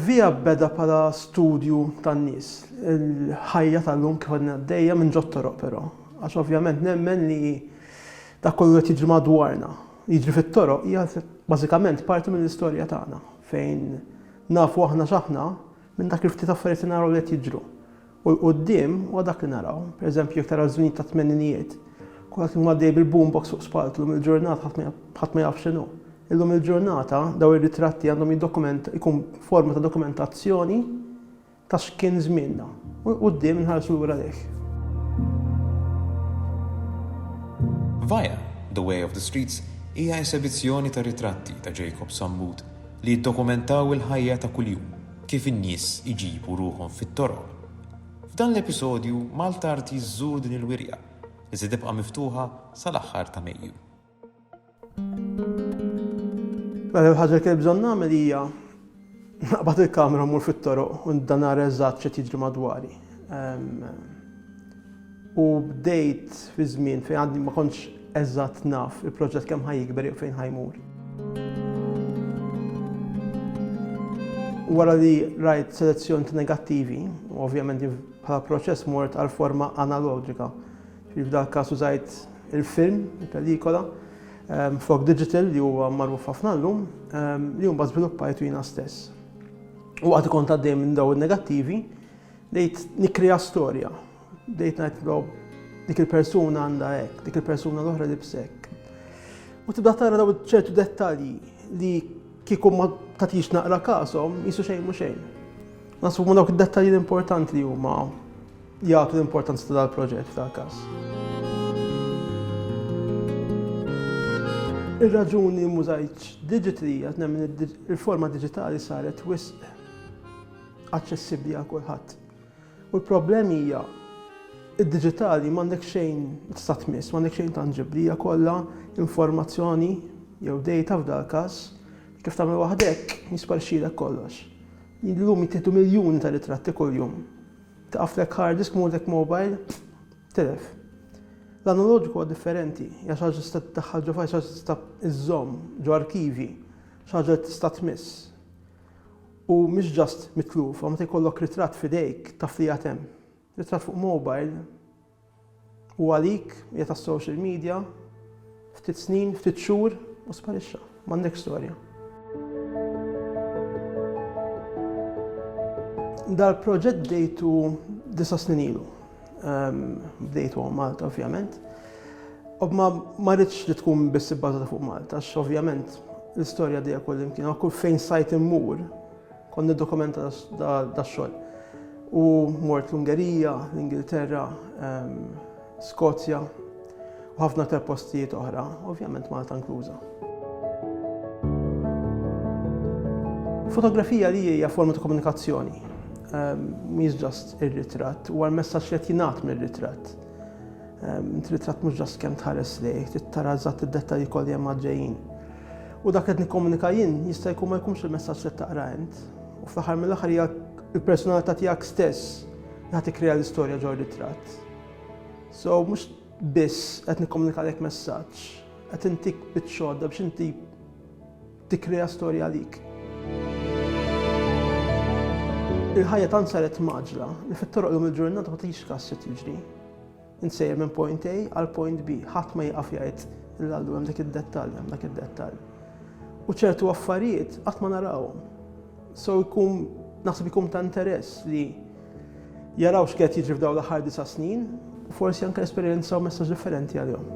Via beda bħala studju tan-nies. Il-ħajja tal-lum kif għadna għaddejja minn ġod toroq però. Għax ovvjament nemmen li dak kollu qed jiġri madwarna, jiġri fit-toroq hija bażikament parti mill-istorja tagħna fejn nafu aħna x'aħna Minn dak il-ftit affarijiet li naraw li qed jiġru. U l-quddiem huwa dak li naraw. Pereżempju, jekk tara ż-żminijiet tat-tmeninijiet, kulħadd kien għaddej bil-boombox fuq spaltu, llum il-ġurnata ħadd ma ħadd ma jaf x'inhu. Illum il-ġurnata dawn ir-ritratti għandhom jiddokument ikun forma ta' dokumentazzjoni ta' x'kien żmienna. U l-quddiem inħarsu lura lejh. Via, The Way of the Streets hija esebizzjoni ta' ritratti ta' Jacob Sammut li jiddokumentaw il-ħajja ta' kuljum, kif in-nies iġibu ruħhom fit-toroq. F'dan l-episodju, Maltart jżżur din il-wirja, li se tibqa' miftuħa sal-aħħar ta' Mejju. L-ewwel ħaġa li kelli bżonn nagħmel hija naqbad il-kamera u mmur fit-toroq u ndanara eżatt x'qed jiġri madwari. u bdejt fi żmien fejn għadni ma kontx eżatt naf il-proġett kemm ħa jikber jew fejn ħa jmur. Wara li rajt selezzjoni ta' negattivi, u ovvjament bħala proċess mort għal forma analogika. Fi f'dal każ użajt il-film, il-pelikola, ehm, flok digital li huwa magħruf ħafna llum, ehm, li mbagħad żviluppajtu jiena stess. U għad kont għaddej minn daw in-negattivi, Bdejt nikkrea storja, bdejt ngħid però dik il-persuna għandha hekk, dik il-persuna l-oħra libs hekk. U tibda tara daw ċertu dettalji li kieku ma tatix naqra kasom jisu xejn mhux xejn. Nasbu ma dawk id-dettalji l-importanti li huma jagħtu l-importanza ta' dal-proġett ta' każ. Ir-raġuni mużajċ digitali għat nemmen il-forma digitali saret wisq aċċessibbli għal kulħadd. U l-problemi hija id-diġitali m'għandek xejn tista' tmiss, m'għandek xejn tanġibbli, hija kollha informazzjoni jew data f'dal każ, kif tagħmel waħdek jisparxilek kollox. Illum jittieħdu miljuni ta' ritratti kuljum. Taqaflek hard disk mudek mobile, tilef. L-analoġiku huwa differenti, hija xi ħaġa tista' tiddaħħal ġo fajl, xi ħaġa tista' iżżomm ġo arkivi, xi ħaġa tista' tmiss. u mhix just mitlufa, meta jkollok ritratt f'idejk taf li għad hemm. Ritratt fuq mobile u għalik hija tas-social media, ftit snin, ftit xhur u sparixxa, m'għandekx storja. Dal-proġett bdejtu disa' snin ilu. bdejtu għom Malta ovvjament. U ma marriċ li tkun biss ibbażata fuq Malta, għax ovvjament l-istorja dejja kull imkien, kull fejn sajt immur, kon dokumenta da xogħol. U mort l-Ungerija, l-Ingilterra, ehm, Skozja, u ħafna aktar postijiet oħra, ovvjament Malta inkluża. Fotografija li hija forma ta' komunikazzjoni, ehm, mhix ġast ir-ritratt, u għal messaġġ li qed jingħad mir-ritratt. Ehm, int ritratt mhux ġast kemm tħares lejh, trid tara eżatt id-dettalji kollha hemm għaddejjin. U dak qed nikkomunika jien jista' jkun ma jkunx il-messaġġ li taqra int. U fl-aħħar mill-aħħar hija il-personalità tiegħek stess li ħadd tikkrea l-istorja ġo ritratt. So mhux biss qed nikkomunikalek messaġġ, qed intik biċ-xodda biex inti tikkrea storja għalik. Il-ħajja tant saret maġla li fit-toroq lum il-ġurnata ma tgħix kas se tiġri. Insejjer minn point A għal point B, ħadd ma jieqaf jgħid il-għallu hemm dak id-dettall, hemm dak id-dettall. U ċertu affarijiet qatt ma narawhom. So jkun naħseb ikun ta' interess li jaraw x'qed jiġri f'dawn l-aħħar disa' snin u forsi anke esperjenzaw messaġġ differenti għalihom.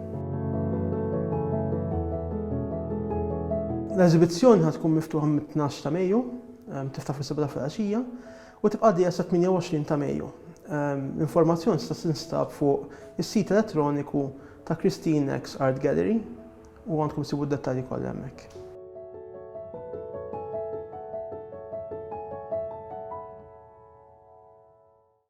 L-eżibizzjoni ħad tkun miftuħa mit-12 ta' Mejju, ehm, tiftaħ fis-7 ta' filgħaxija u tibqa' dejja sa 28 ta' Mejju. Ehm, l-informazzjoni tista' tinstab fuq is-sit elettroniku ta' Christine X Art Gallery U għandkom issibu d-dettalji kollha hemmhekk.